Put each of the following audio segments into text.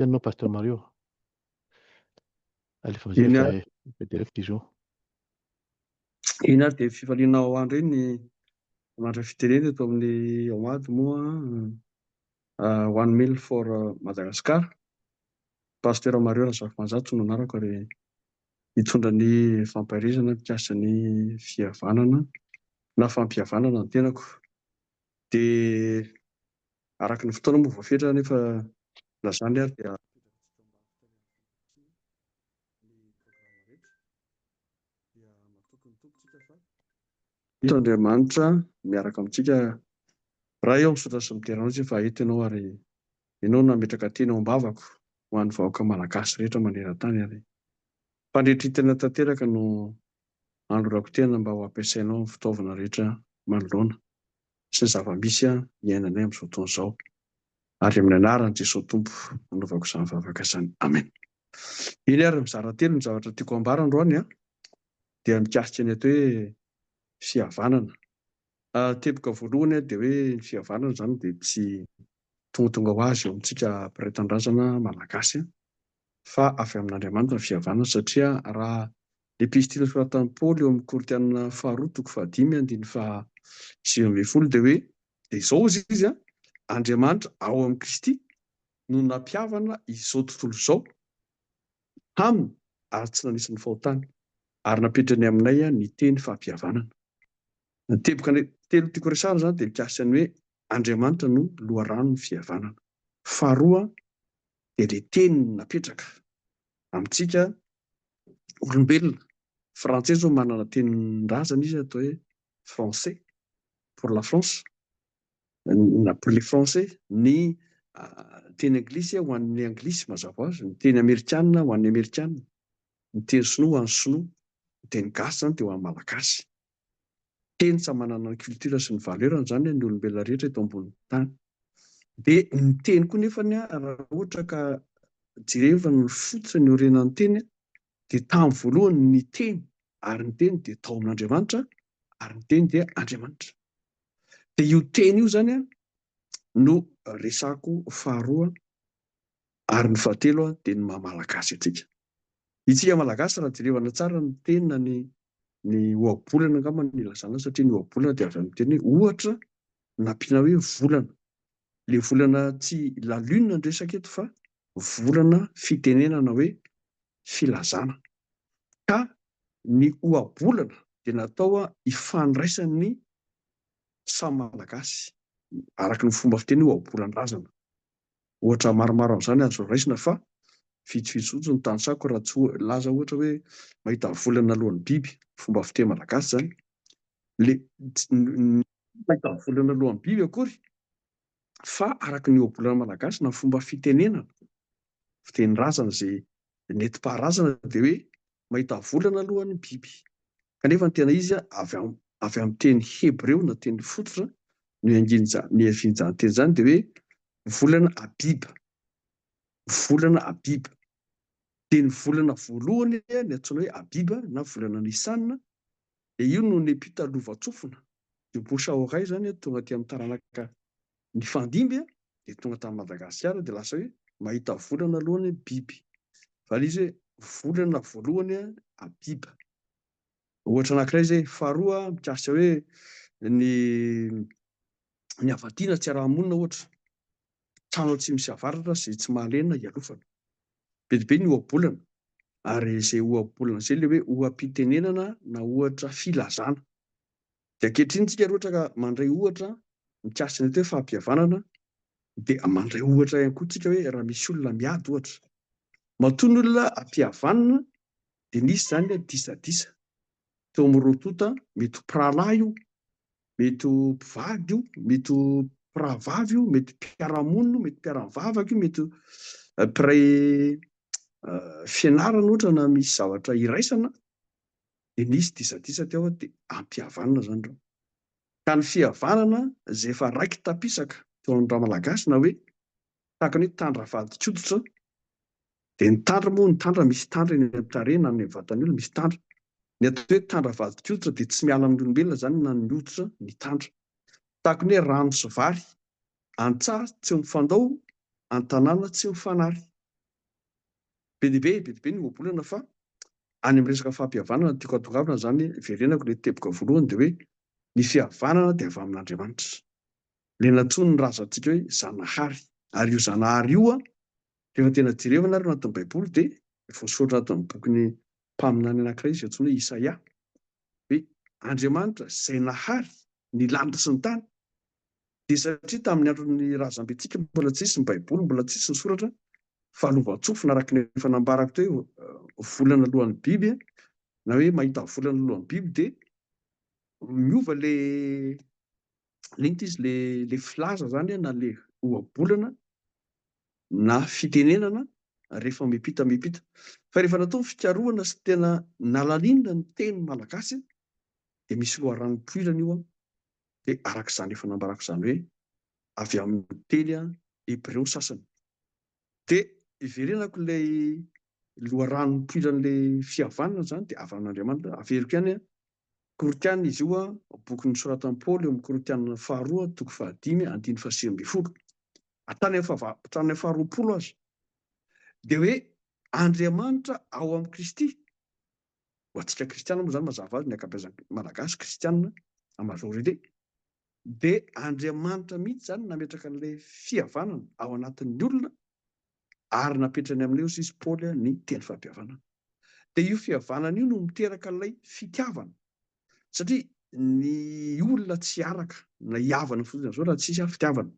Tena no Pasteur Mario. Alefa mizay Ina... fa eh, direct izy io. Iny ary dia fifaliana ao andro iny ny mandra fitenena eto amin'ny ao ady moa uh, one mil for uh, Madagascar. Pasteur Mario Razafimanjato no anarako ary hitondra ny fampaherezana mikasika ny fihavanana na fampihavanana ny tenako. Dia araka ny fotoana moa voafetra anefa na izany ary dia Eto Andriamanitra miaraka amintsika. Ray ô, misaotra sy midera anao isika fa eto Ianao ary Ianao no nametraka teny ao am-bavako ho an'ny vahoaka Malagasy rehetra maneran-tany ary fandretrintena tanteraka no Andro Rakotena mba ho ampiasainao ny fitaovana rehetra manoloana sy ny zava-misy iainanay amin'izao fotoana izao. Ary amin'ny anaran'i Jesoa Tompo nanaovako izany vavaka izany. Amen. Eny ary mizara telo ny zavatra tiako ambara androany an! Dia mikasika ny atao hoe fihavanana. Teboka voalohany an, dia hoe ny fihavanana izany dia tsy tongatonga ho azy eo amintsika mpiray tanindrazana malagasy an! fa avy amin'Andriamanitra ny fihavanana, satria raha ny epistily nosoratan'i Paoly eo amin'ny Korintiana faharoa toko fahadimy andininy faha sivy ambin'ny folo dia hoe, dia izao hozy izy, Andriamanitra ao amin'i Kristy no nampihavana izao tontolo izao taminy ary tsy nanisy ny fahotany, ary napetrany aminay ny teny fampihavanana. Ny teboka telo tiako resahana izany dia mikasika ny hoe Andriamanitra no loharanon'ny fihavanana. Faharoa, dia ilay teny napetraka amintsika olombelona. Frantsay izao manana tenin-drazana izy atao hoe français pour la France na pour les français, ny teny anglisy ho an'ny anglisy mazava ho azy, ny teny amerikana ho an'ny amerikana, ny teny sinoa ho an'ny sinoa, ny teny gasy izany dia ho an'ny malagasy. teny samy manana ny culture sy ny valeur-ny izany ny olombelona rehetra eto ambonin'ny tany. Dia ny teny koa nefa raha ohatra ka jereva ny foto sy ny orenan'ny teny dia tamin'ny voalohany ny teny ary ny teny dia tao amin'Andriamanitra ary ny teny dia Andriamanitra. Dia io teny io izany no resako faharoa ary ny fahatelo dia ny maha malagasy antsika. Isika Malagasy raha jerevana tsara ny teny na ny ny ohabolana angamba no ilazana azy satria ny ohabolana dia avy amin'ny teny hoe ohatra nampiana hoe volana. Ilay volana tsy la lune no resaka eto fa volana fitenenana hoe filazana. Ka ny ohabolana dia natao hifandraisan'ny samy Malagasy araka ny fomba fiteny hoe ohabolan-drazana. Ohatra maromaro amin'izany azo raisina fa vitsivitsy fotsiny ny tanisaiko raha tsy laza ohatra hoe mahita vola ny alohan'ny biby, fomba fiteny malagasy izany. Le mahita vola ny alohan'ny biby akory fa araka ny ohabolana malagasy na fomba fitenenana, fitenin-drazana izay Ny nentim-paharazana dia hoe mahita volana aloha ny biby. Kanefa ny tena izy avy avy amin'ny teny hebreo na teny fototra niangian'izany niavian'izany teny izany dia hoe volana Abib. Volana Abib. Dia ny volana voalohany ny antsoina hoe Abib na volana Nisan dia io no nepita lovantsofina. Io bouche à oreille izany tonga aty amin'ny taranaka Nifandimby an! dia tonga tany Madagasikara dia lasa hoe mahita volana aloha ny biby. Zany izy hoe volana voalohany an! Habiba. Ohatra anankiray izay. Faharoa mikasika hoe ny ny havadiana tsy araha-monina ohatra. Trano atsimo sy avaratra izay tsy mahalena ialofana. Be dia be ny ohabolana. Ary izay ohabolana izay ilay hoe oham-pitenenana na ohatra filazana. Dia ankehitriny tsika rehetra ka mandray ohatra mikasika an'ilay hoe fampihavanana dia mandray ohatra ihany koa tsika hoe raha misy olona miady ohatra matoa ny olona ampihavanina dia nisy izany hoe disadisa teo amin'ny roa tonta mety ho mpirahalahy io mety ho mpivady io mety ho mpirahavavy io mety mpiarahamonina io mety mpiaramivavaka io mety eh, mpiray eh, fianarana ohatra na misy zavatra iraisana dia nisy disadisa teo aho dia ampihavanina izany ireo. Ka ny fihavanana izay efa raiki-tapisaka teo amin'ny Ramalagasy na hoe tahaka ny hoe tandry avadin-koditra dia ny tandry moa ny tandry misy tandry eny amin'ny tarehy na any amin'ny vatan'ny olona misy tandry. Ny atao hoe tandry avadin-koditra dia tsy miala amin'ny olombelona izany na ny hoditra ny tandry. Tahaka ny hoe rano sy vary, an-tsaha tsy mifandao, an-tanàna tsy mifanary. Be dia be, be dia be ny ohabolana fa any amin'ny resaka fahampihavanana no tiako hatongavana izany hiverenako ilay teboka voalohany dia hoe ny fihavanana dia avy amin'Andriamanitra. Ilay nantsoiny ny razantsika hoe Zanahary. Ary io Zanahary io an, rehefa tena jerevana ary ao anatin'ny Baiboly dia voasoratra anatin'ny bokin'ny mpaminany anankiray izay antsoina hoe Isaia hoe Andriamanitra izay nahary ny lanitra sy ny tany dia satria tamin'ny andron'ny razambentsika mbola tsy nisy ny Baiboly, mbola tsy nisy ny soratra, fa lovantsofina araka ny efa nambarako teo hoe volana alohan'ny biby na hoe mahita volana alohan'ny biby dia miova le le inty izy le le filaza zany na le ohabolana na fitenenana rehefa mipita mipita fa rehefa natao ny fikarohana sy tena nalalina ny teny malagasy dia misy loharano poirana io dia araka izany efa nambarako izany hoe avy amin'ny teny hebreo ny sasany. Dia iverenako ilay loharano nipoiran'ilay fihavanana izany dia avy amin'Andriamanitra, averiko ihany Korotiana izy io, boky nosoratan'i Paoly eo amin'ny Korotiana faharoa, toko fahadimy, andininy fahasivy ambin'ny folo. Hatrany amin'ny faharoapolo aza. Dia hoe Andriamanitra ao amin'i Kristy. Ho antsika kristiana moa izany mazava ho azy ny ankabeazan'ny Malagasy kristiana en majorité dia Andriamanitra mihitsy izany nametraka an'ilay fihavanana ao anatin'ny olona ary napetrany amin'ilay hozy izy Paoly ny teny fampihavanana. Dia io fihavanana io no miteraka ilay fitiavana satria ny olona tsy hiaraka na hihavana fotsiny amin'izao raha tsisy fitiavana.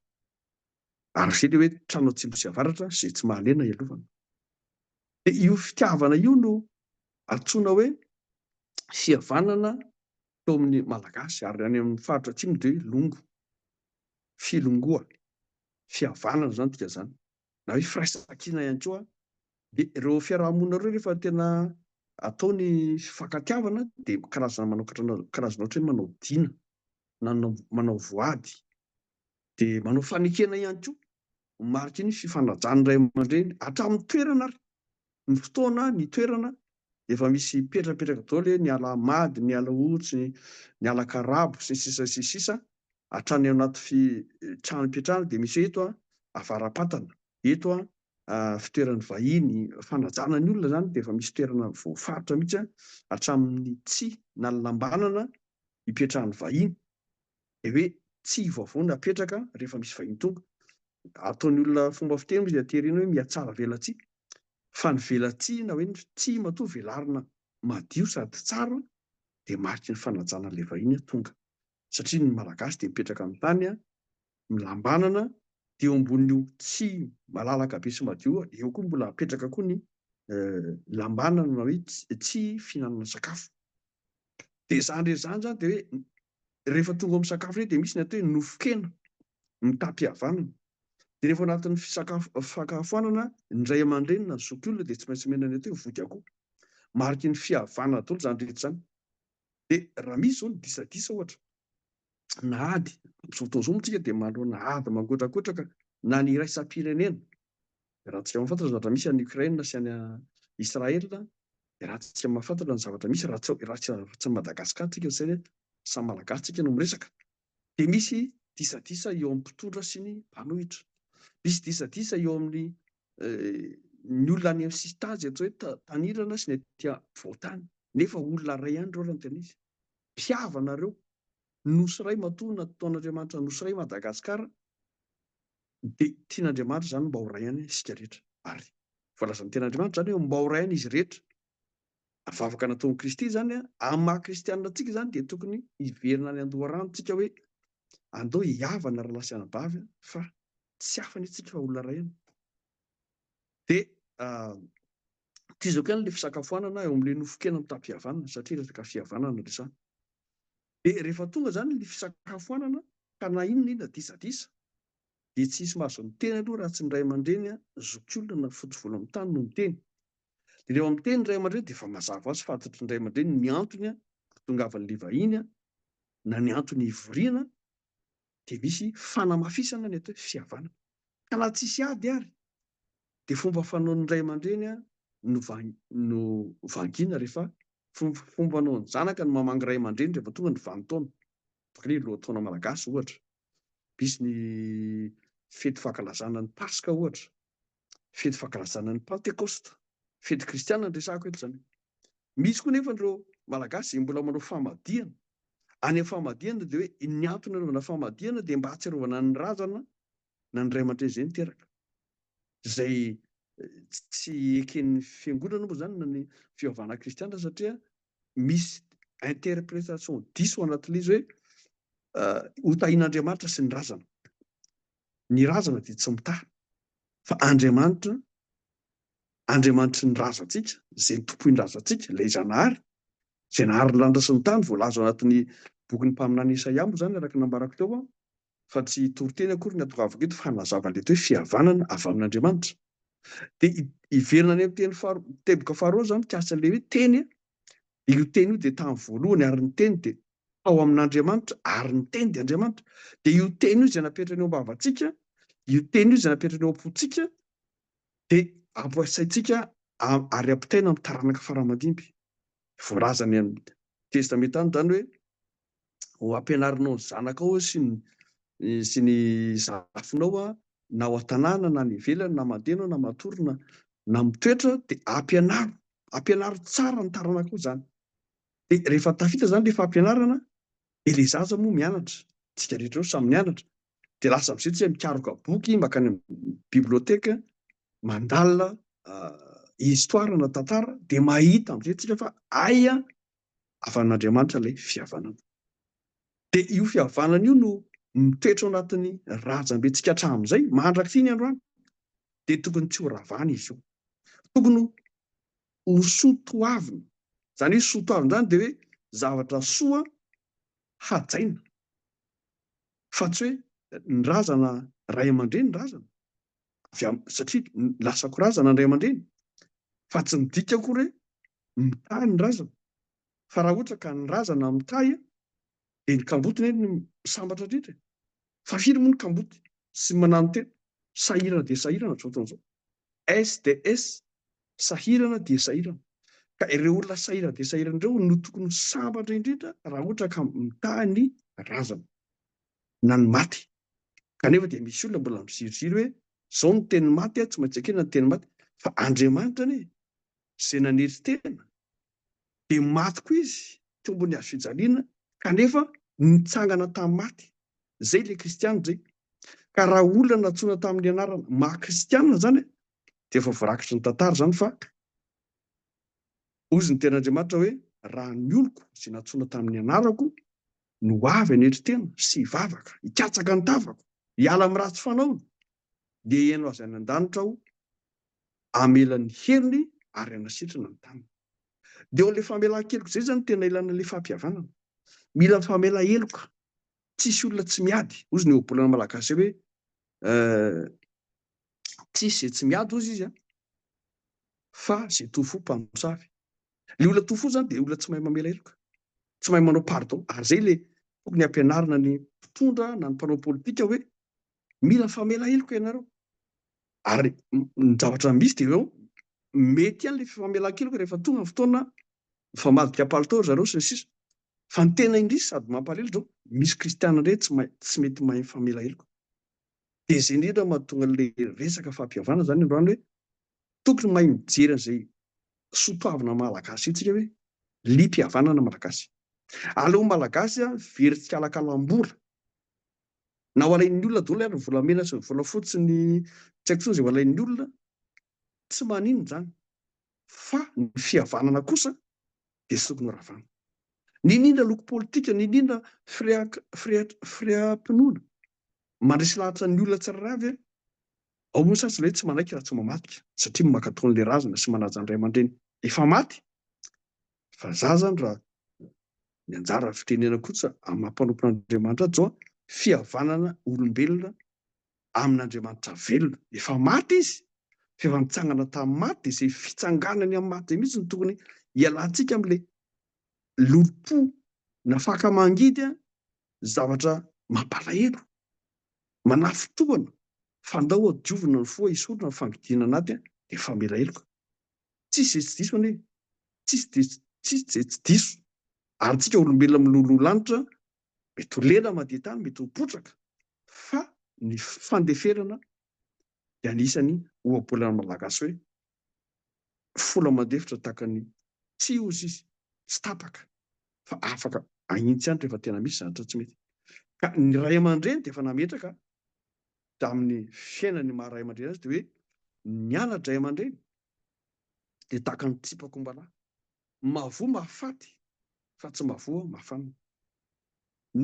Arche dia hoe trano atsimo sy avaratra izay tsy mahalena hialovana. Dia io fitiavana io no antsoina hoe fihavanana teo amin'ny Malagasy ary any amin'ny faritra atsimo dia hoe longo, filongoa, fihavanana izany dikan'izany na hoe firaisankina ihany koa. Dia ireo fiaraha-monina ireo rehefa tena atao ny fifankatiavana dia karazana manao karazana ohatra hoe manao dina na manao voady dia manao fanekena ihany koa ho mariky ny fifanajan'ny ray aman-dreny hatramin'ny toerana ary ny fotoana ny toerana efa misy petrapetraka daholo hoe ny ala mady ny ala otsy ny ny ala karabo sy ny sisa sy ny sisa hatrany anaty fi trano ipetrahana dia misy hoe eto a avara-patana eto a fitoeran'ny vahiny fanajana ny olona izany dia efa misy toerana voafaritra mihitsy hatramin'ny tsy nalalambanana ipetrahan'ny vahiny dia hoe tsihy vaovao no apetraka rehefa misy vahiny tonga. Ataon'ny olona fomba fiteny moa izay aterena hoe mihatsara velatsihy. Fa ny velatsihy na hoe ny tsihy matoa velarina madio sady tsara dia mariky ny fanajana an'ilay vahiny tonga. Satria ny Malagasy dia mipetraka amin'ny tany milambanana dia eo ambonin'io tsihy malalaka be sy madio io, eo koa mbola apetraka koa ny lambanana na hoe tsihy fihinanana sakafo. Dia izany rehetra izany izany dia hoe rehefa tonga ao amin'ny sakafo indray dia misy ny atao hoe nofon-kena mitam-pihavanana. Dia rehefa ao anatin'ny fisakafo fakahafoanana ny ray aman-dreny na ny zokiolona dia tsy maintsy omena ny atao hoe voky akoho. Mariky ny fihavanana daholo izany rehetra izany. Dia raha misy izao ny disadisa ohatra na ady, amin'izao fotoana izao moa isika dia manoloana ady mangotrakotraka na ny iraisam-pirenena Raha tsy mahafantatra ny zavatra misy any Ukraine sy any Israel, raha tsy mahafantatra ny zavatra misy raha tsy raha tsy tsy Madagascar tsika tsy hoe samy Malagasy tsika no miresaka dia misy disadisa eo amin'ny mpitondra sy ny mpanohitra. Misy disadisa eo amin'ny ny olona any amin'ny sisintany atao hoe tanirana sy ny aty afovoan-tany nefa olona iray ihany ireo raha ny tena izy. Mpihavana ireo. Nosy iray matoa natao an'Andriamanitra, Nosy iray Madagasikara. Dia tian'Andriamanitra izany mba ho ray any isika rehetra. Ary voalazan'ny Tenin'Andriamanitra izany hoe mba ho ray any izy rehetra. Ary vavaka nataon'i Kristy izany amin'ny maha kristianina antsika izany dia tokony hiverina any an-doharano isika hoe, Andao hihavana ry lahy sy anabavy fa tsy hafa anie isika fa olona ray any. Dia tohizako ihany ilay fisakafoanana eo amin'ilay nofon-kena mitaha-pihavanana satria resaka fihavanana no resahana. Dia rehefa tonga izany ny fisakafoanana ka na inona na inona disadisa dia tsy hisy mahazo ny teny aloha raha tsy ny ray aman-dreny zokiolona na fotsy volo amin'ny tany no miteny. Dia rehefa miteny ny ray aman-dreny dia efa mazava ho azy fantatry ny ray aman-dreny ny antony hahatongavan'ilay vahiny na ny antony hivoriana dia misy fanamafisana ny atao hoe fihavanana. Ka na tsisy ady ary dia fomba fanaon'ny ray aman-dreny no no vangiana rehefa fomba fanaon'ny zanaka no mamangy ray aman-dreny rehefa tonga ny vanintaona. Izany ny lohataona malagasy ohatra. Misy ny fety fankalazana ny paska ohatra. fety fankalazana ny pantekosta, fety kristiana no resahako eto izany. Misy koa nefa ireo malagasy izay mbola manao famadihana, any amin'ny famadihana dia hoe ny antony anaovana famadihana dia mba hahatsiarovana ny razana na ny ray aman-dreny izay niteraka, izay tsy eken'ny fiangonana moa izany na ny fivavahana kristiana satria misy interprétation diso ao anatin'ilay izy hoe ho tahin'Andriamanitra sy ny razana. Ny razana dia tsy mitaha, fa Andriamanitra, Andriamanitry ny razantsika, izay tompoy ny razantsika, ilay Zanahary, izay nahary ny lanitra sy ny tany, voalaza ao anatin'ny bokin'ny mpaminany Isaia moa izany, araka ny nambarako teo aho, fa tsy toriteny akory ny atongavako eto, fa hanazava an'ilay hoe fihavanana avy amin'Andriamanitra. Dia hiverina any amin'ny teny faharoa, teboka faharoa izany mikasika an'ilay hoe teny, io teny io dia tamin'ny voalohany, ary ny teny dia tao amin'Andriamanitra ary ny Teny dia Andriamanitra. Dia io Teny io izay napetrany eo am-bavantsika, io Teny io izay napetrany eo am-pontsika dia ampiasaintsika ary ampitaina amin'ny taranaka faramadimby. Voalaza any amin'ny Testamenta any izany hoe ho ampianarinao ny zanakao sy ny sy ny zafinao na ao an-tanàna na any ivelany na mandeha ianao na matory na na mitoetra dia ampianaro ampianaro tsara ny taranakao izany. Dia rehefa tafita izany ilay fampianarana dia ilay zaza moa mianatra, isika rehetra eo samy mianatra, dia lasa amin'izay tsy hay mikaroka boky, mankany amin'ny biblioteka, mandalina histoire na tantara, dia mahita amin'izay tsika fa hay avy amin'Andriamanitra ilay fihavanana. Dia io fihavanana io no mitoetra ao anatin'ny razambentsika hatramin'izay, mandrak'ity ny androany, dia tokony tsy ho ravana izy io. Tokony ho soa toavina. Izany hoe soa toavina izany dia hoe zavatra soa hajaina fa tsy hoe ny razana ray aman-dreny ny razana avy amin'ny satria lasa ko razana ny ray aman-dreny fa tsy midika akory hoe mitahy ny razana fa raha ohatra ka ny razana mitahy Dia ny kamboty ne no misambatra indrindra e! Fa firy moa ny kamboty tsy mananontena? Sahirana dia sahirana amin'izao fotoana izao. SDS, sahirana dia sahirana. Ka ireo olona sahirana dia sahirana ireo no tokony ho sambatra indrindra raha ohatra ka mitaha ny razana, na ny maty. Kanefa dia misy olona mbola miziriziry hoe izao ny tenin'ny maty a, tsy maintsy ekena ny tenin'ny maty, fa Andriamanitra anie izay nanery tena dia maty koa izy teo ambony hazo fijaliana kanefa nitsangana tamin'ny maty. Izay ilay kristiana izay. Ka raha olona nantsoina tamin'ny anarana maha kristiana izany dia efa voarakitry ny tantara izany fa hozy ny tenin'Andriamanitra hoe raha ny oloko izay nantsoina tamin'ny anarako no avy hanetry tena sy hivavaka, hikatsaka ny tavako, hiala amin'ny ratsy fanaony dia heno azy any an-danitra aho hamela ny helony ary hanasitrana ny tanany. Dia ilay famelan-keloka izay izany no tena ilana ilay fahapihavanana. Mila famela-heloka. Tsy hisy olona tsy miady. Hozy ny ohabolana malagasy hoe tsy hisy izay tsy miady hozy izy an, fa izay toa fo mpamosavy. Ilay olona toa fo izany dia olona tsy mahay mamela heloka, tsy mahay manao pardon. Ary izay ilay tokony hampianarina ny mpitondra na ny mpanao politika hoe Mila famela heloka ianareo. Ary ny zavatra misy dia ireo mety ihany ilay fifamelan-keloka rehefa tonga ny fotoana mifamadika palitao ry zareo sy ny sisa. Fa ny tena indrisy sady mampalahelo izao, misy kristiana indray tsy mahay tsy mety mahay mifamela heloka. Dia izay indrindra no mahatonga an'ilay resaka fahapihavanana izany androany hoe tokony mahay mijery an'izay soa toavina malagasy isika hoe liam-pihavanana malagasy. Aleo malagasy very tsikalakalam-bola Na ho alain'ny olona daholo ary ny volamena sy ny volafotsy ny tsy haiko intsony izay ho alain'ny olona, tsy maninona izany fa ny fihavanana kosa dia sokony horavana. Niniana loko politika, niniana fireham-pinoana mandresy lahatra ny olona tsirairay avy e! Ao moa ny sasany hoe tsy manaiky raha tsy mamadika satria mankatò an'ilay razana sy manaja ny ray aman-dreny efa maty fa za zany raha ny anjara fitenenako kosa amin'ny maha mpanompo an'Andriamanitra ahy joa fihavanana olombelona amin'Andriamanitra velona efa maty izy fa efa nitsangana tamin'ny maty dia izay fitsanganany amin'ny maty izay mihitsy no tokony hialantsika amin'ilay lolompo nafaka mangidy a zavatra mampalahelo manafitohana fandao adiovina ny fo a hisorona ny fangidiana anaty a dia famela heloka Tsisy izay tsy diso anie e! Tsisy dia tsisy izay tsy diso. Ary tsika olombelona miloloha lanitra mety ho lela mandeha tany, mety ho potraka, fa ny fandeferana dia anisan'ny ohabolan'ny Malagasy hoe, fola mandefitra tahaka ny tsihy hozy izy, tsy tapaka, fa afaka ahitsy ihany rehefa tena misy zavatra tsy mety. Ka ny ray aman-dreny dia efa nametraka tamin'ny fiainany maha ray aman-dreny azy dia hoe ny ana-dray aman-dreny dia tahaka ny tsipak'ombalahy, mahavoa mahafaty fa tsy mahavoa mahafanina.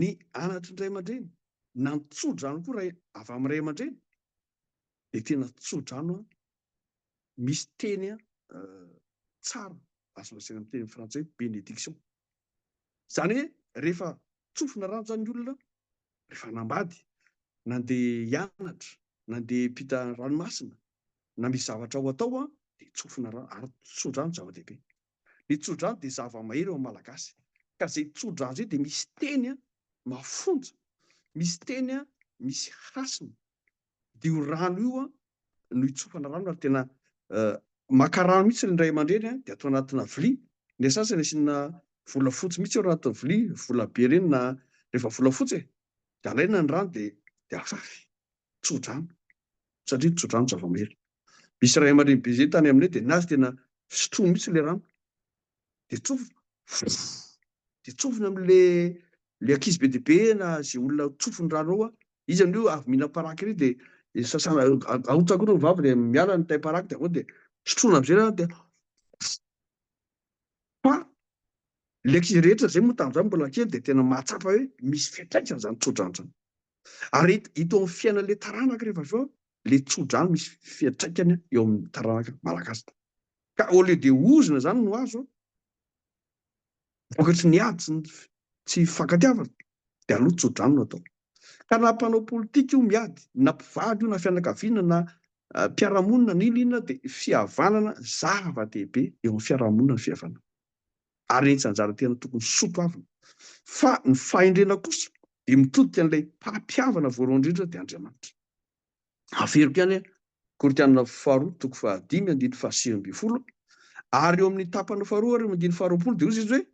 Ny anatry ny ray aman-dreny na ny tsodrano koa ray avy amin'ny ray aman-dreny dia tena tsodrano misy teny tsara azo lazaina amin'ny teny frantsay hoe bénédiction. Izany hoe rehefa tsofina rano izany ny olona, rehefa hanambady, nandeha hianatra, nandeha hiampita ranomasina, na misy zavatra ho atao an, dia tsofina rano, ary tso-drano zava-dehibe. Ny tso-drano dia zava-mahery eo amin'ny Malagasy, ka izay tso-drano izay dia misy teny mafonja, misy teny misy hasina, dia io rano io no hitsofana rano ary tena maka rano mihitsy ny ray aman-dreny dia atao anatina vilia, ny sasany asiana volafotsy mihitsy eo anaty vilia, vola be ireny na rehefa volafotsy e, dia alaina ny rano dia dia afafy, tso-drano satria tso-drano zava-mahery. Misy ray aman-dreny be izay tany aminay dia ny azy tena sotroiny mihitsy ilay rano dia tsofina dia tsofina amle le ankizy be dia be na ze olona tsofiny rano ao a izy amleo avy mila paraky ry dia dia sasana arotsako ireo vavy dia miala ny tay paraky dia avao dia sotroina amizay rano dia fa le ankizy rehetra zay moa tamin'izany mbola kely dia tena mahatsapa hoe misy fiantraikany zany tsodrano zany ary ito amin'ny fiainan'le taranaka rehefa avy eo le tsodrano misy fiantraikany eo amin'ny taranaka malagasy Ka au lieu de ozona zany no azo an! Vokatry ny ady sy ny tsy fifankatiavana de aleo tso-drano no atao. Ka na mpanao politika io miady, na mpivady io, na fianakaviana, na mpiara-monina, na inona inona de fihavanana zava-dehibe eo amin'ny fiaraha-monina ny fihavanana. Ary etsy anjara tena tokony soatoavina. Fa ny fahendrena kosa de mitodika an'ilay mpampihavana voalohany indrindra de Andriamanitra. Averiko ihany Korinthiana faharoa toko fahadimy andininy fahasivy ambin'ny folo ary eo amin'ny tapany faharoa ary eo amin'ny andininy faharoapolo dia hozy izy hoe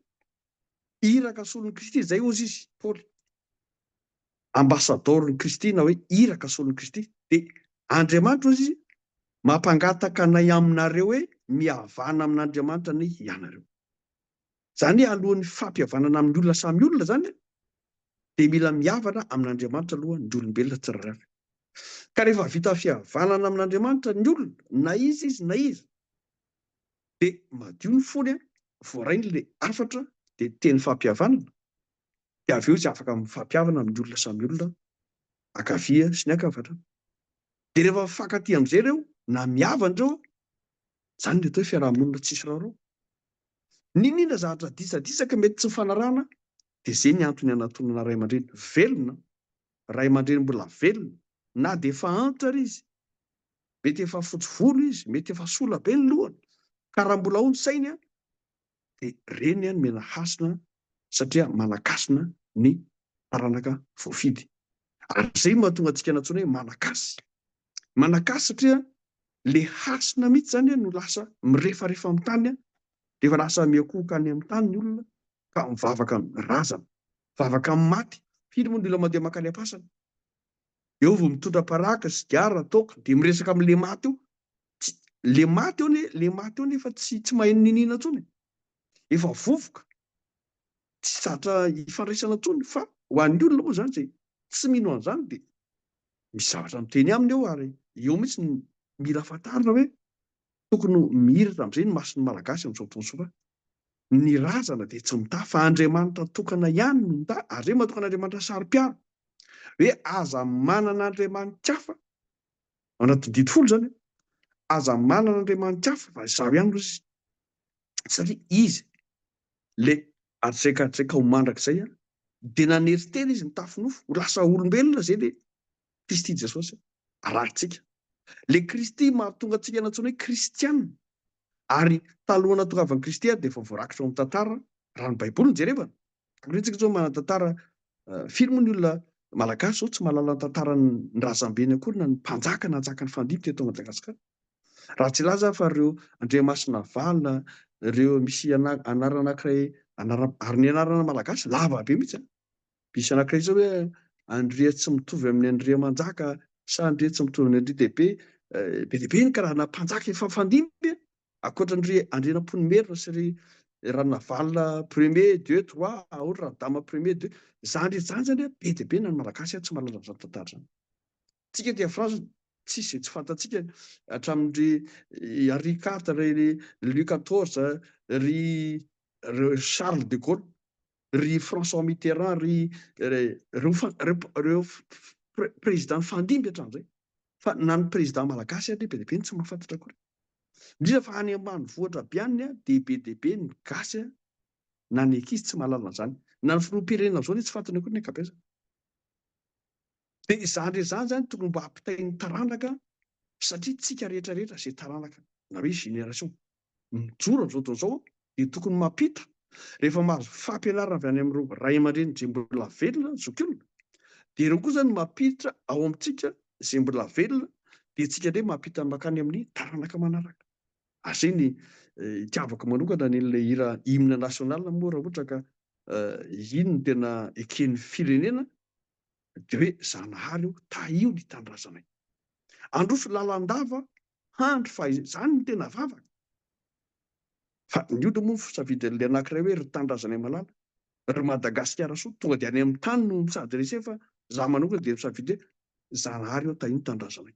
iraka solon'i Kristy izay hozy izy Paoly ambasadaoron'i Kristy na hoe iraka solon'i Kristy dia Andriamanitra hozy izy mampangataka anay aminareo hoe mihavana amin'Andriamanitra anie ianareo. Izany hoe alohan'ny fampihavanana amin'ny olona samy olona izany dia mila mihavana amin'Andriamanitra aloha ny olombelona tsirairay avy. Ka rehefa vita fihavanana amin'Andriamanitra ny olona, na iza izy na iza, dia madio ny fony, voaray ny le hafatra dia teny fampihavanana, dia avy eo izy afaka mifampihavana amin'ny olona samy olona ankavia sy ny ankavanana. Dia rehefa mifankatia amin'izay ireo na mihavana ireo, izany ny atao hoe fiaraha-monina tsisy raharaha. N'inona zavatra disadisa ka mety tsy mifanarahana dia izay ny antony hanatonana ray aman-dreny velona, ray aman-dreny mbola velona na dia efa antitra ary izy. Mety efa fotsy volo izy, mety efa sola be ny lohany ka raha mbola ao ny sainy dia reny nomena hasina satria manan-kasina ny taranaka voafidy. Ary izay no mahatonga antsika nantsoina hoe malagasy. manakà satria le hasina mihitsy zany no lasa mirefarefa amin'ny tany dia efa lasa miakohoka any amin'ny tany ny olona ka mivavaka amin'ny razana, mivavaka amin'ny maty, firy moa ny olona mandeha makany am-pasana eo vao mitondra paraky, sigara, toaka dia miresaka amin'le maty eo, le maty eo anie, le maty eo nefa tsy tsy mahay niniana intsony e! efa vovoka, tsy zatra hifandraisana intsony fa ho an'ny olona moa zany izay tsy mino an'izany dia misy zavatra miteny aminy eo ary eo mihitsy ny mila fantarina hoe tokony ho mihiratra amin'izay ny mason'ny Malagasy amin'izao fotoana izao fa ny razana dia tsy mitaha fa Andriamanitra tokana ihany no mitaha ary hoe matoka an'Andriamanitra saro-piaro hoe aza manana andriamani-kafa ao anatin'ny didy folo izany aza manana andriamani-kafa fa izaho ihany no sisa satria izy Ilay hatretratreka ho mandrakizay dia nanery tena izy nitafy nofo ho lasa olombelona izay ilay Kristy Jesosy arahintsika. Ilay Kristy mahatonga antsika nantsoina hoe kristiana ary talohan'ny nahatongavan'i Kristy ary dia efa voarakitra ao amin'ny tantara raha ny Baiboly no jerevana. Takoriantsika izao manan-tantara firy moa ny olona malagasy izao tsy mahalala ny tantaran'ny razambeny akory na ny mpanjaka nanjaka nifandimby teto Madagasikara. Raha tsy hilaza aho fa ireo andriamasina valo, ireo misy anarana anankiray, ary ny anarana malagasy lava be mihitsy an! Misy anankiray izao hoe Andriantsimitovy amin'ny Andriamanjaka sa Andriantsimitovy amin'ny Andriandehibe, be dia be ny karazana mpanjaka efa fandimby an! Ankoatra ny ry Andrianampoinimerina sy ry Ranavalona premier, deux, trois, ohatra Radama premier, deux, izany rehetra izany izany an, be dia be na ny malagasy an, tsy mahalala izany tantara izany. Tsika aty France tsisy zay tsy fantatsika hatramin ry Henri quart, ry Louis quatorze, ry Charles de Gaulle, ry François Mitterrand, ry reo prezida nifandimby hatramzay. Fa na ny prezida malagasy ary be dia be ny tsy mahafantatra akory. Indrindra fa any ambanivohitra be any dia be dia be ny gasy na ny ankizy tsy mahalala anzany. Na ny filoham-pirenena amzao anie tsy fantany akory ny ankabezany. Dia izany rehetra izany izany tokony mba hampitain'ny taranaka satria tsika rehetra rehetra izay taranaka na hoe génération mijoro amin'izao tontolo izao dia tokony mampita rehefa mahazo fampianarana avy any amin'ireo ray aman-dreny izay mbola velona zokiolona dia ireo kosa no mampiditra ao amintsika izay mbola velona dia tsika indray mampita makany amin'ny taranaka manaraka ary izay ny itiavako manokana ny ilay hira hymne national moa raha ohatra ka iny no tena eken'ny firenena dia hoe Zanahary ô, tahio ny tanindrazanay. Androso lalandava handry fa izany no tena vavaka. Fa ny ody moa safidy le anankiray hoe ry tanindrazanay malala, ry Madagasikara soa, tonga dia any amin'ny tany no mi-s'adresser fa za manokana dia misafidy hoe Zanahary ô, tahio ny tanindrazanay.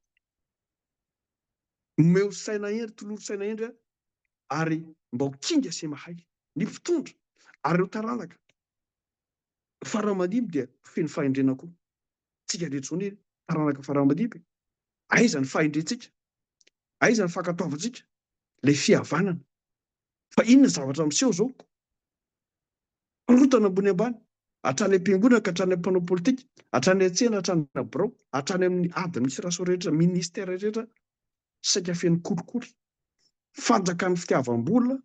Omeo saina hendry, tolory saina hendry a, ary mbao kinga sy mahay ny mpitondra ary ireo taranaka. Farah Madiba dia feno fahendrena koa. Tsika rehetra zao anie taranaka Farah Madiba e! Aiza ny fahendrentsika? Aiza ny fankatoavantsika? Ilay fihavanana? Fa inona ny zavatra miseho zao? Korontana ambony ambany, hatrany am-piangonana ka hatrany amin'ny mpanao politika, hatrany an-tsena, hatrany amin'ny birao, hatrany amin'ny administration rehetra, ministère rehetra, saika feno kolikoly. Fanjakan'ny fitiavam-bola,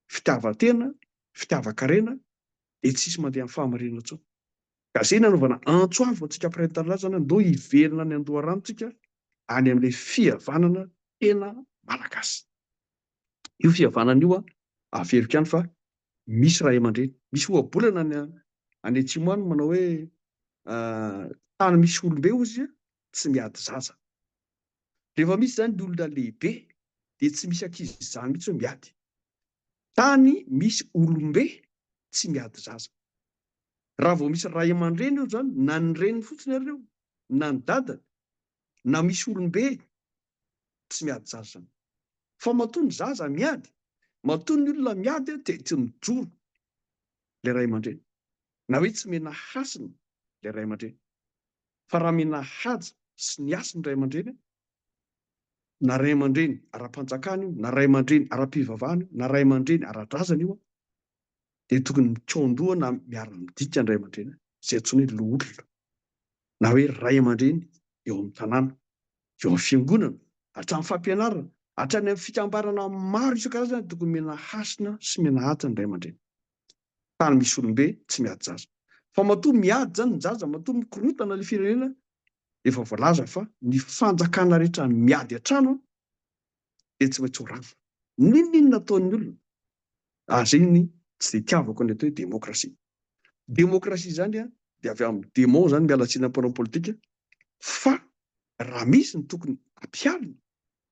fitiavan-tena, fitiavan-karena, dia tsisy mandeha amin'ny fahamarinana intsony. Ka zay nanaovana antso avo antsika mpiray ny tanindrazana hoe ndao hiverina any an-doharano tsika any amin'ilay fihavanana tena malagasy. Io fihavanana io averiko ihany fa misy ray aman-dreny, misy ohabolana any any atsimo any manao hoe tany misy olombe ozy tsy miady zaza. Rehefa misy zany ny olona lehibe dia tsy misy ankizy zany mihitsy hoe miady. Tany misy olombe tsy miady zaza. Raha vao misy ray aman-dreny eo izany, na ny reniny fotsiny ary eo, na ny dadany, na misy olombe tsy miady zaza izany. Fa matoa ny zaza miady, matoa ny olona miady dia tsy mijoro ilay ray aman-dreny, na hoe tsy omena hasina ilay ray aman-dreny. Fa raha mena haja sy ny hasiny ny ray aman-dreny, na ray aman-dreny ara-panjakana io, na ray aman-dreny ara-pivavahana io, na ray aman-dreny ara-drazana io, dia tokony mikaon-doha na miara-midika ny ray aman-dreny, izay antsoina hoe loholona, na hoe ray aman-dreny eo amin'ny tanàna, eo amin'ny fiangonana, hatramin'ny fampianarana, hatrany amin'ny fikambanana maro isan-karazany, tokony mena hasina sy mena haja ny ray aman-dreny. tany misy olombe tsy miady zaza fa matoa miady zany ny zaza matoa mikorotana le firenena efa voalaza fa ny fanjakana rehetra miady atrano an dia tsy maintsy ho rava ninoninona ataon'ny olona ary zay ny tsy dia tiavako ny atao hoe demokrasia demokrasia zany an dia avy amin'ny demon zany miala tsiny ampanao politika fa raha misy ny tokony ampialina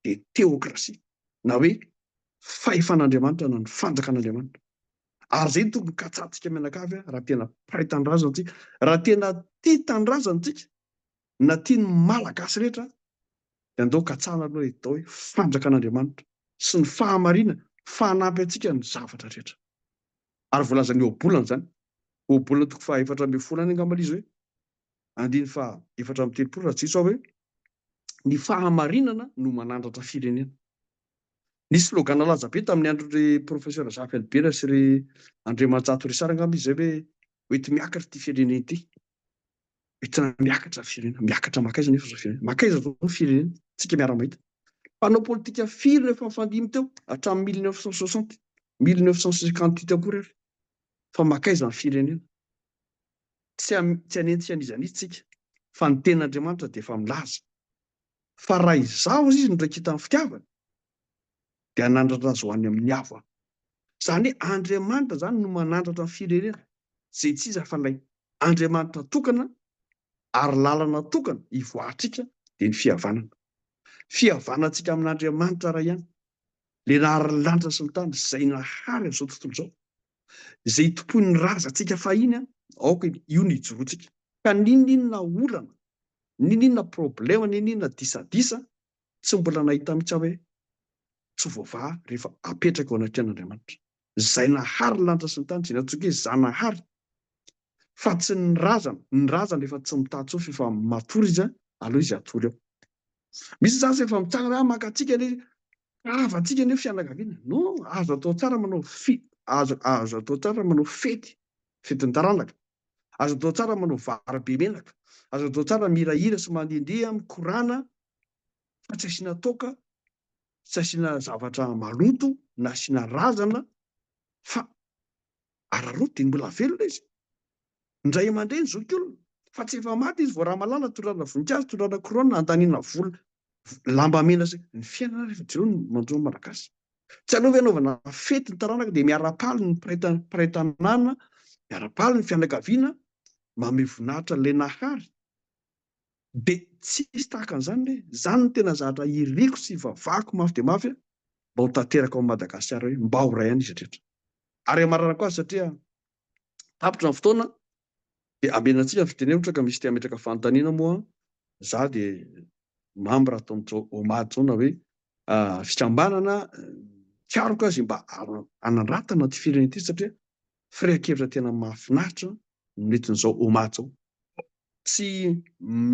dia teokrasia na hoe fahefan'andriamanitra na ny fanjakan'andriamanitra Ary izay no tokony katsahantsika mianakavy raha tena mpahay tanindrazana antsika, raha tena tia tanindrazana antsika na tia ny Malagasy rehetra dia andao katsahana aloha ny atao hoe fanjakan'Andriamanitra sy ny fahamarinana fa hanampy antsika amin'ny zavatra rehetra. Ary voalazan'ny ohabolana izany. Ohabolana toko faha efatra ambin'ny folo any angamba ilay izy hoe andininy faha efatra amby telopolo raha tsy diso aho hoe ny fahamarinana no manandratra firenena. Nisy slogan nalaza be tamin'ny andron'ry Professeur Zafy Albert sy ry Andriamanjato Richard angamba izy izay hoe hoety miakatra ity firenena ity. Hoetina miakatra ny firenena. Miakatra makaiza nefa izao firenena. Makaiza izao ny firenena. Tsika miara-mahita. Mpanao politika firy no efa nifandimby teo hatramin'ny 1960, 1958 akory ary. Fa makaiza ny firenena. Tsy, tsy hanentsika an'iza an'iza tsika. Fa ny tenin'Andriamanitra dia efa milaza. fa raha izaho izy no raikita ny fitiavany dia hanandratra azy ho any amin'ny avo aho. Izany hoe Andriamanitra izany no manandratra ny firenena izay tsy iza fa ilay Andriamanitra tokana ary lalana tokana hivoahatrika dia ny fihavanana. Fihavanantsika amin'Andriamanitra iray ihany, ilay nahary ny lanitra sy ny tany izay nahary an'izao tontolo izao. izay itompoin'ny razantsika fahiny, aoka io no ijoroantsika. Ka n'inon'inona olana, n'inon'inona problema, n'inon'inona disadisa, tsy mbola nahita mihitsy aho hoe tsy voavaha rehefa apetraka eo anatrehan'Andriamanitra, izay nahary ny lanitra sy ny tany, izay nantsoiko hoe Zanahary, fa tsy ny razana, ny razana efa tsy mitaha intsony fa efa matory izy, aleo izy hatory eo. Misy izany izay efa mitsangana hoe, ah, mangatsiaka ilay izy, Havantsika ny hoe fianakaviana. No, azo atao tsara manao fi, azo, azo atao tsara manao fety, fetin-taranaka. Azo atao tsara manao vary be menaka. Azo atao tsara mihirahira sy mandihindihy amin'ny Korana, fa tsy asiana toaka, tsy asiana zavatra maloto, na asiana razana, fa Araraoty dia mbola velona izy. Ny ray aman-dreny zokiolona, fa tsy efa maty izy vao ramalala, tondrana voninkazo, tondrana couronne, andaniana vola, lamba mena sy. Ny fiainana rehefa jereo ny manjo ny Malagasy. Tsy aloha ve anaovana fety ny taranaka dia miara-paly ny mpiray mpiray tanàna, miara-paly ny fianakaviana, mamehy voninahitra an'ilay Nahary. Dia tsy hisy tahaka an'izany ve? Izany no tena zavatra iriako sy ivavahako mafy dia mafy mba ho tanteraka ao Madagasikara hoe mba ho ray an'izy rehetra. ary hamarana koa azy satria tapitra ny fotoana dia hamena antsika ny fiteny ohatra ka misy te hametraka fanontaniana moa za dia mamy raha ataon'tso omady zao na hoe ah, fikambanana mikaroka azy mba hanandratana ty firenena ity satria firehan-kevitra tena mahafinaritra no nentin'izao omady zao tsy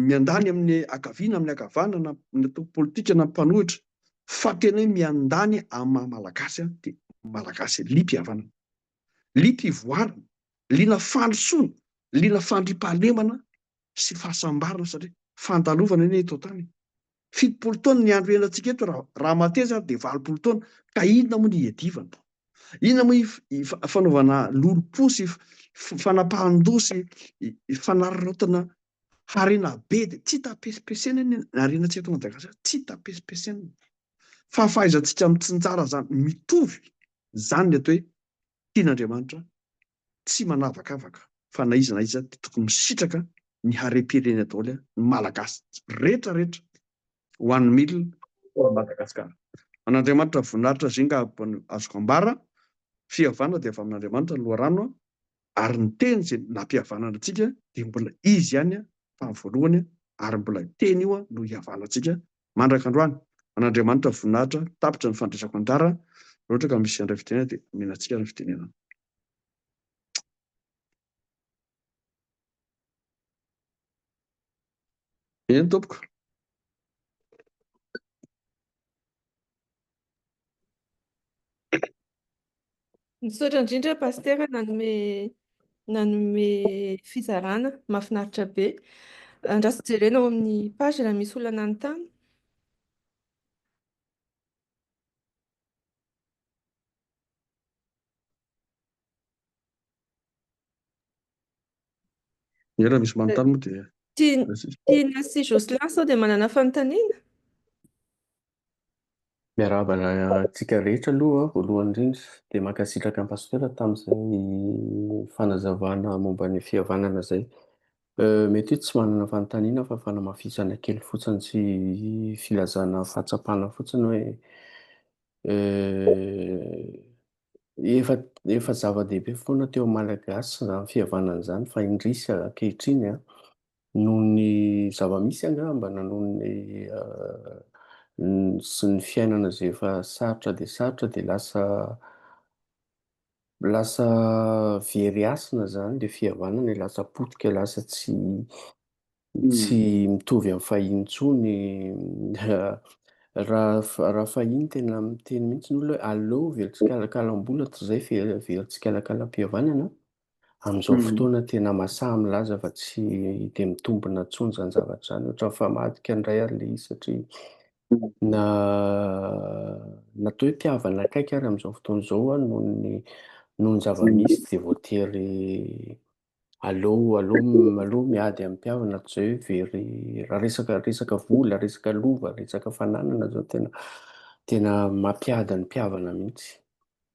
miandany amin'ny akaviana, amin'ny akavana na ny antoko politika na ny mpanohitra fa tena hoe miandany amin'ny maha malagasy aho dia malagasy, liam pihavanana, liam pivoarana, liana fandrosoana, liana fandriampahalemana sy fahasambarana satria fandalovana anie eto an-tany e! fitopolo taona ny andro hiainantsika eto raha raha mateza ary dia valopolo taona ka inona moa ny hiadivana inona moa ny fanaovana lolompo sy fanapahan-doha sy fanararaotana harena be dia tsy tapesipesena ny harena tsy eto Madagasikara tsy tapesipesena fa fahaizantsika mitsinjara izany mitovy izany ny atao hoe tian'Andriamanitra tsy manavakavaka fa na iza na iza dia tokony misitraka ny harem-pirenena daholo ny Malagasy rehetra rehetra ho an'ny mil for Madagasikara. An'Andriamanitra voninahitra zinga abany azoko ambara, fihavana dia avy amin'Andriamanitra ny loharano a, ary ny teny izay nampihavanana antsika dia mbola izy ihany tamin'ny voalohany ary mbola teny io no hihavanantsika mandrak'androany. An'Andriamanitra voninahitra, tapitra ny fandresako anjara, raha ohatra ka misy handray fitenenana dia omena antsika ny fitenenana. Eny tompoko. Misaotra indrindra Pasitera nanome nanome fizarana, mahafinaritra be. Andraso jerena ao amin'ny page raha misy olona nanontany. Dia raha misy manontany moa dia. Tiana sy Jocelyn sao dia manana fanontaniana? Miarahaba antsika rehetra aloha voalohany indrindra, dia mankasitraka an'i Pasitera tamin'izay fanazavana momba ny fihavanana izay. Mety tsy manana fanontaniana fa fanamafisana kely fotsiny sy filazana fahatsapana fotsiny hoe efa efa zava-dehibe foana teo amin'ny Malagasy izany fihavanana izany fa indrisy ankehitriny noho ny zava-misy angamba na noho ny sy ny fiainana izay efa sarotra dia sarotra dia lasa Lasa very hasina zany ilay fihavanana e, lasa potika, lasa tsy tsy mitovy amin'ny fahiny intsony raha raha fahiny tena miteny mihitsy ny olona hoe aleo very tsikalakalam-bola toy izay fe very tsikalakalam-pihavanana, amin'izao fotoana tena masaha milaza fa tsy dia mitombina intsony izany zavatra izany, ohatran'ny famadika indray ary ilay izy satria Na na toa hoe mpihavana akaiky ary amin'izao fotoana izao aho noho ny noho ny zava-misy dia voatery aleo aleo aleo miady amin'ny mpihavana toy izay very raha resaka resaka vola, resaka lova, resaka fananana izao tena tena mampiady ny mpihavana mihitsy.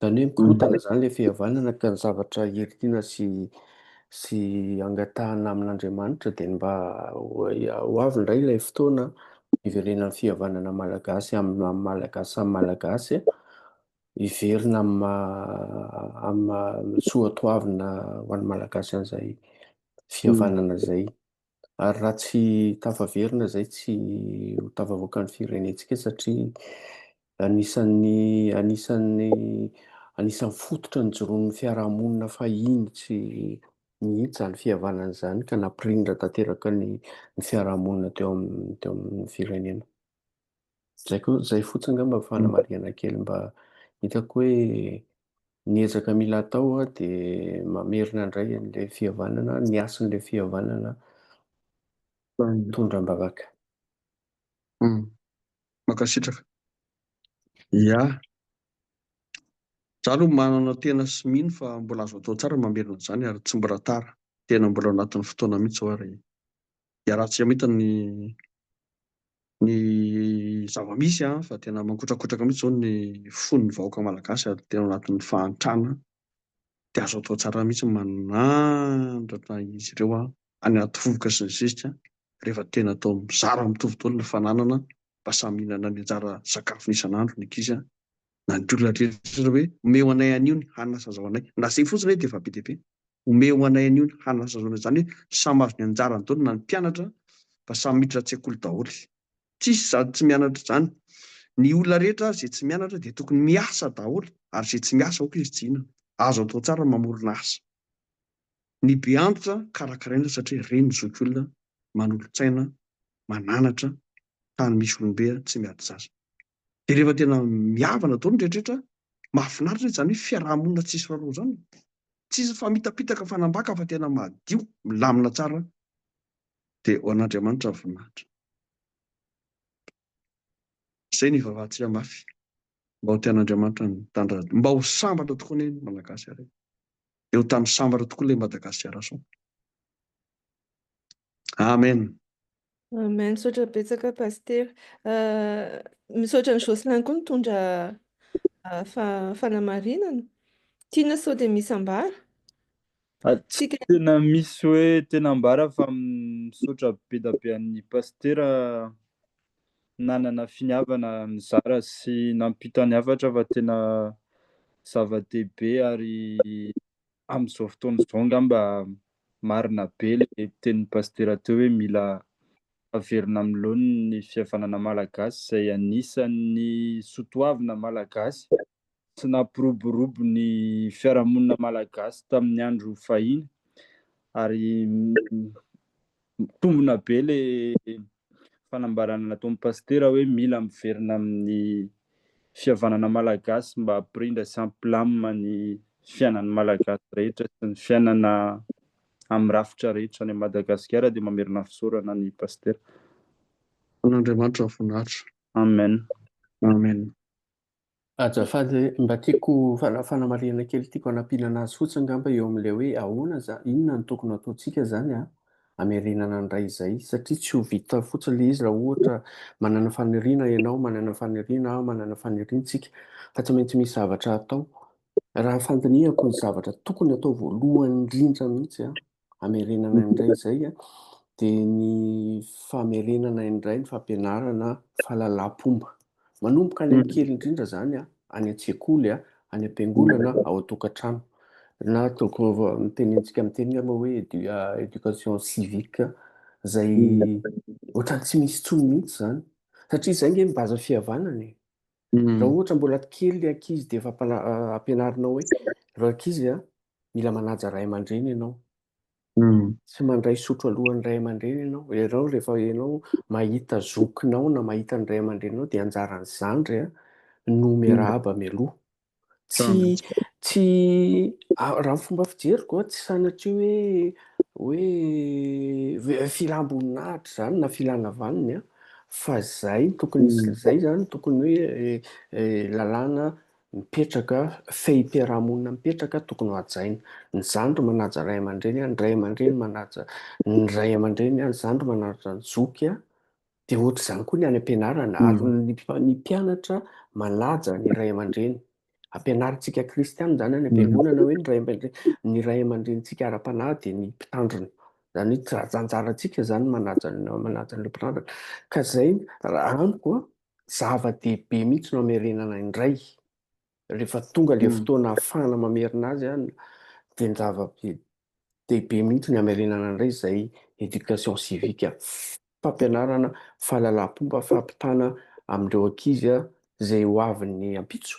Zany hoe mikorontana izany ilay fihavanana ka ny zavatra heritina sy sy angatahana amin'Andriamanitra dia ny mba ho avy indray ilay fotoana hiverenan'ny fihavanana malagasy amin'ny amin'ny malagasy samy malagasy hiverina amin'ny amin'ny soatoavina ho an'ny malagasy an'izay fihavanana izay. Ary raha tsy tafaverina izay tsy ho tafavoaka ny firenentsika satria anisan'ny anisan'ny anisan'ny fototra nijoroan'ny fiarahamonina fahiny tsy mihitsy izany fihavanana izany ka nampirindra tanteraka ny ny fiarahamonina teo amin'ny teo amin'ny firenena. Zay ko, zay fotsiny ngamba fanamarihana kely mba hitako hoe ny ezaka mila atao de mamerina indray an'ilay fihavanana, ny hasin'ilay fihavanana mitondra am-bavaka. Mankasitraka. Ia. Za aloha manana tena sy mino fa mbola azo atao tsara ny mamerina an'izany ary tsy mbola tara. Tena mbola anatin'ny fotoana mihitsy zao ary iaraha-tsika mahita ny. ny zava-misy an, fa tena mankotrakotraka mihitsy izao ny fon'ny vahoaka malagasy ary tena ao anatin'ny fahantrana dia azo atao tsara mihitsy ny manandratra izy ireo any anaty vovoka sy ny zezika rehefa tena atao mizara mitovy daholo ny fananana mba samy mihinana ny anjara sakafony isan'andro ny ankizy an, na ny olona rehetra hoe omeo anay anio ny hanina sy azahoanay, na izay fotsiny hoe dia efa be dia be. Omeo anay anio ny hanasazoana izany hoe samy azo ny anjarany daholo na ny mpianatra fa samy miditra an-tsekoly daholo. Tsisy sady tsy mianatra izany. Ny olona rehetra ary izay tsy mianatra dia tokony miasa daholo ary izay tsy miasa aoka izy tsy hihinana. Azo atao tsara ny mamorona asa. Ny be antitra karakaraina satria ireny no zokiolona manolotsaina mananatra tany misy olombe tsy miady zaza. Dia rehefa tena mihavana daholo ny rehetrarehetra, mahafinaritra izany hoe fiaraha-monina tsisy rarao izany. Tsisy famitapitaka fanambaka fa tena madio, milamina tsara. Dia ho an'Andriamanitra ny voninahitra. Izay no ivavahantsika mafy, mba ho tian'Andriamanitra ny tany radiony, mba ho sambatra tokoa anie ny Malagasy ary dia ho tany sambatra tokoa ilay Madagasikarason. Amen. Amen. Misaotra betsaka Pasitera. Misaotra an'i Jocelyn koa nitondra fanamarinana. Tiana sao dia misy ambara? Tsy tena misy hoe tena ambara fa misaotra be dia be an'ny Pasitera nanana finiavana nizara sy nampita ny hafatra fa tena zava-dehibe ary amin'izao fotoana izao angamba marina be ilay tenin'ny pasitera teo hoe mila averina amin'ny laoniny ny fihavanana malagasy izay anisan'ny sotoavina malagasy sy nampiroborobo ny fiarahamonina malagasy tamin'ny andro fahiny ary mitombina be ilay fanambarana nataon'ny Pasitera hoe mila miverina amin'ny fihavanana Malagasy mba hampirindra sy hampilamina ny fiainan'ny Malagasy rehetra sy ny fiainana amin'ny rafitra rehetra any Madagasikara dia mamerina fisaorana ny Pasitera. An' Andriamanitra voninahitra. Amen. Amen. Ajafady mba tiako fanamarihana kely tiako hanampiana anazy fotsiny ngamba eo amin'ilay hoe ahoana zany inona no tokony hataontsika zany an hamerenana ny ray izay satria tsy ho vita fotsiny ilay izy raha ohatra manana faniriana ianao manana faniriana aho manana faniriantsika fa tsy maintsy misy zavatra atao raha fandinihako ny zavatra tokony atao voalohany indrindra mihitsy an hamerenana indray izay a, dia ny famerenana indray ny fampianarana fahalalampomba. Manomboka any amin'ny kely indrindra izany a, any an-tsekoly a, any am-piangonana, ao an-tokantrano. Na toko mitenintsika miteny angamba hoe édu- ah, éducation civique, izay ohatran'ny tsy misy intsony mihitsy izany. Satria izay nge ny base fihavanana e. Mm. Raha ohatra mbola kely ny ankizy dia efa mpana- ah, ampianarinao hoe ry ankizy a, mila manaja ray aman-dreny ianao. Mm. Tsy mandray sotro alohan'ny ray aman-dreny ianao. Ianao rehefa ianao mahita zokinao na mahita ny ray aman-dreninao dia anjaran'ny zandry a, no miarahaba mialoha. Tsy tsy raha ny fomba fijeriko a, tsy sanatria hoe hoe filam-boninahitra izany na filana vaniny a, fa zay tokony hmm. zay zany tokony hoe eh, eh, lalàna mipetraka fehim-piarahamonina mipetraka tokony ho hajaina ny zandry manaja ray aman-dreny a ny ray aman-dreny manaja ny ray aman-dreny a ny zandry manaja ny zoky a Dia ohatr'izany koa ny any am-pianarana, ary ny mpianatra manaja ny ray aman-dreny. Ampianarintsika kristiana izany any am-piangonana hoe ny ray aman-drenintsika ara-panahy dia ny mpitandrina. Izany hoe tsy anjarantsika izany manaja an'ilay mpitandrina. Ka izay, raha amiko, zava-dehibe mihitsy no hamerenana indray Rehefa tonga ilay fotoana hahafahana mamerina azy dia ny zava-dehibe mihitsy ny hamerenana indray izay éducation civique, fampianarana fahalalam-pomba fampitana amin'ireo ankizy izay ho avy ny ampitso,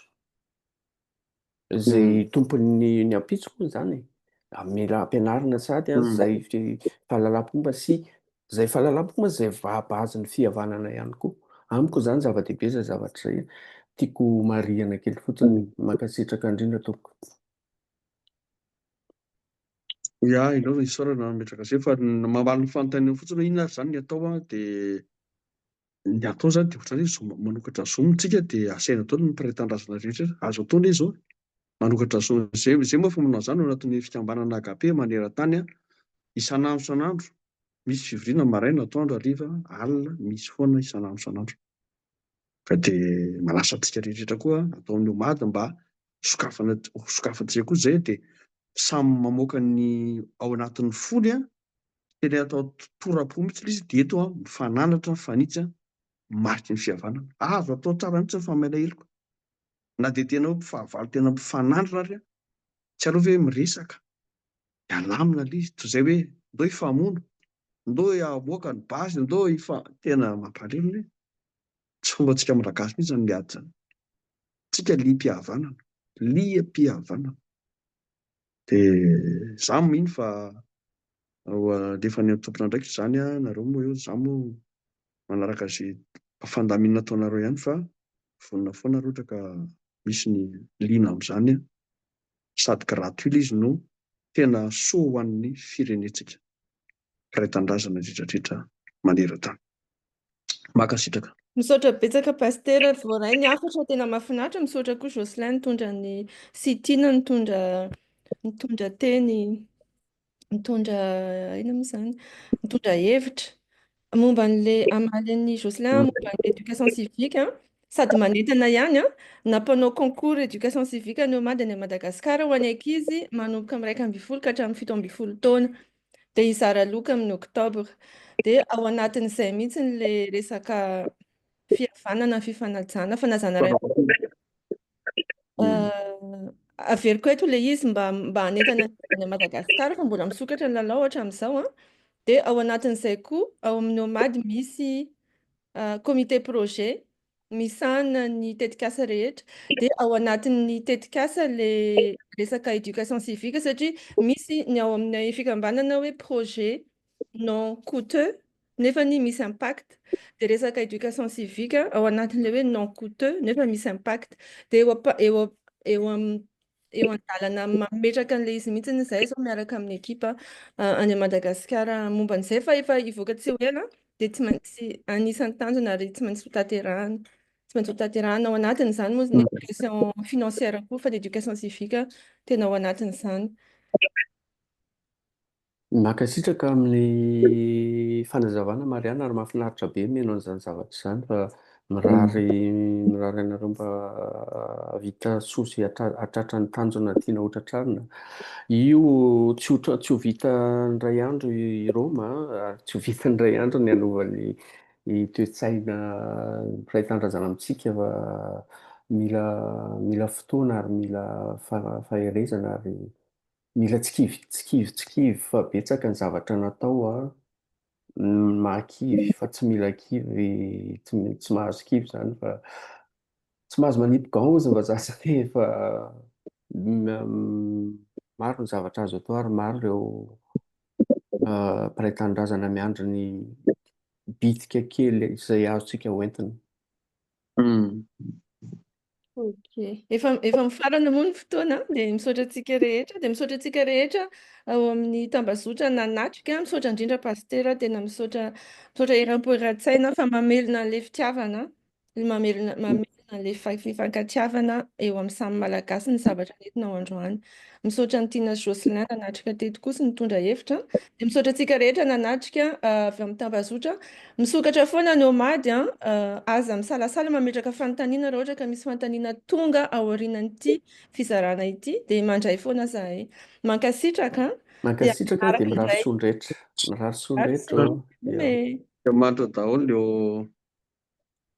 izay tompon'ny ny ampitso moa izany e! mila ampianarina sady izay fahalalam-pomba sy Izay fahalalam-pomba izay vaha-base ny fihavanana ihany koa. Amiko izany zava-dehibe izay zavatra izay tiako marihina kely fotsiny. Mankasitraka indrindra tompoko. Ya, enao ve isaorana nametraka izay fa ny mamaly ny fanontaniana fotsiny hoe inona ary izany ny atao an dia ny atao izany dia ohatran'ny hoe zo manokatra zo amintsika dia asaina daholo ny mpiray tanindrazana rehetra rehetra azo atao anie izao manokatra zo izay izay moa efa manao an'izany ao anatin'ny fikambanana agape maneran-tany an isan'andro isan'andro misy fivoriana maraina atoandro hariva alina misy foana isan'andro isan'andro ka dia manasa antsika rehetra rehetra koa atao amin'ny omady mba sokafana sokafantsika koa izay dia samy mamoaka ny ao anatin'ny fony an Tena atao tora-po mihitsy ilay izy, dia eto aho mifananatra, mifanitsy, mariky ny fihavanana. Azo atao tsara mihitsy ny famelaheloko, na dia tena hoe mpifahavalo tena mifanandrina ary aho. Tsy aleo ve miresaka, hialamina ilay izy, toy izay hoe ndao hifamono, ndao hamoaka ny basy, ndao hifa-. Tena mampalahelo ilay izy. Tsy fombantsika Malagasy mihitsy izany miady izany. Tsika liam-pihavanana, liam-pihavanana. Dia izaho mino fa ho alefan'ny an'ny tompon'andraikitra izany ianareo moa eo, izaho moa manaraka izay fandaminana ataonareo ihany fa vonona foana raha ohatra ka misy ny liana amin'izany sady gratuit ilay izy no tena soa ho an'ny firenentsika. mpiray tanindrazana indridrandrindra maneran-tany. Mankasitraka. Misaotra betsaka Pasitera, voaray ny hafatra, tena mahafinaritra, misaotra koa Jocelyn nitondra ny sy Tina nitondra nitondra teny nitondra inona moa izany nitondra hevitra momba an'ilay amalin'ny Jocelyn mm. momba ny éducation civique hein? sady manentana ihany an, nampanao concours éducation civique an'io Mady any Madagasikara ho an'ny ankizy manomboka amin'ny iraika ambin'ny folo ka hatramin'ny fito ambin'ny folo taona. dia hizara loka amin'ny oktobra. Dia ao anatin'izay mihitsy ilay resaka fihavanana, fifanajana, fanajana ray aman-dreny. Averiko eto ilay izy mba mba hanentana any Madagasikara fa mbola misokatra ny lalao hatramin'izao an. Dia ao anatin'izay koa ao amin'ny OMAD misy comité projet misahana ny tetikasa rehetra dia ao anatin'ny tetikasa le resaka éducation civique satria misy ny ao amin'ny fikambanana hoe projet non coûteux nefa ny misy impact dia resaka éducation civique ao anatin'ilay hoe non coûteux nefa misy impact dia eo eo amin'ny eo an-dalana mametraka an'ilay izy mihitsy izahay izao miaraka amin'ny ekipa any Madagasikara momba an'izay fa efa hivoaka tsy ho ela dia tsy maintsy anisan'ny tanjona ary tsy maintsy hotanterahana. Tsy maintsy hotanterahana ao anatin'izany moa ny éducation financière koa fa ny éducation civique tena ao anatin'izany. Mankasitraka amin'ny fanazavana Marianne ary mahafinaritra be mihaino an'izany zavatra izany fa mirary mirary anareo mba hahavita soa sy hahatratra ny tanjona tiana hotratrarina. Io tsy ho tsy ho vita indray andro i Roma ary tsy ho vita indray andro ny hanova ny ny toe-tsaina mpiray tanindrazana amintsika fa mila mila fotoana ary mila faherezana ary Mila tsy kivy tsy kivy tsy kivy fa betsaka ny zavatra natao a, ny maha kivy fa tsy mila kivy tsy mi- tsy mahazo kivy zany fa tsy mahazo manipy gants hozy ny vazaha zany e fa maro ny zavatra azo atao ary maro ireo mpiray tanindrazana miandry ny bitika kely izay azontsika hoentina. Ok. Efa, efa mifarana moa ny fotoana, dia misaotra antsika rehetra, dia misaotra antsika rehetra ao amin'ny tambazotra nanatrika, misaotra indrindra pasitera, tena misaotra, misaotra eram-po eran-tsaina fa mamelona an'ilay fitiavana, mamelona, mamelona an'ilay fa- fifankatiavana eo amin'ny samy malagasy ny zavatra nentina ao androany. Misaotra an'i Tiana sy Jocelyn nanatrika teto koa sy nitondra hevitra. Dia misaotra antsika rehetra nanatrika avy amin'ny tambazotra. Misokatra foana ny Omady an! Aza misalasala mametraka fanontaniana raha ohatra ka misy fanontaniana tonga aorianan'ity fizarana ity dia mandray foana zahay. Mankasitraka an! Mankasitraka dia mirary soa ny rehetra. Mirary soa ny rehetra ô! Dia mandra daholo eo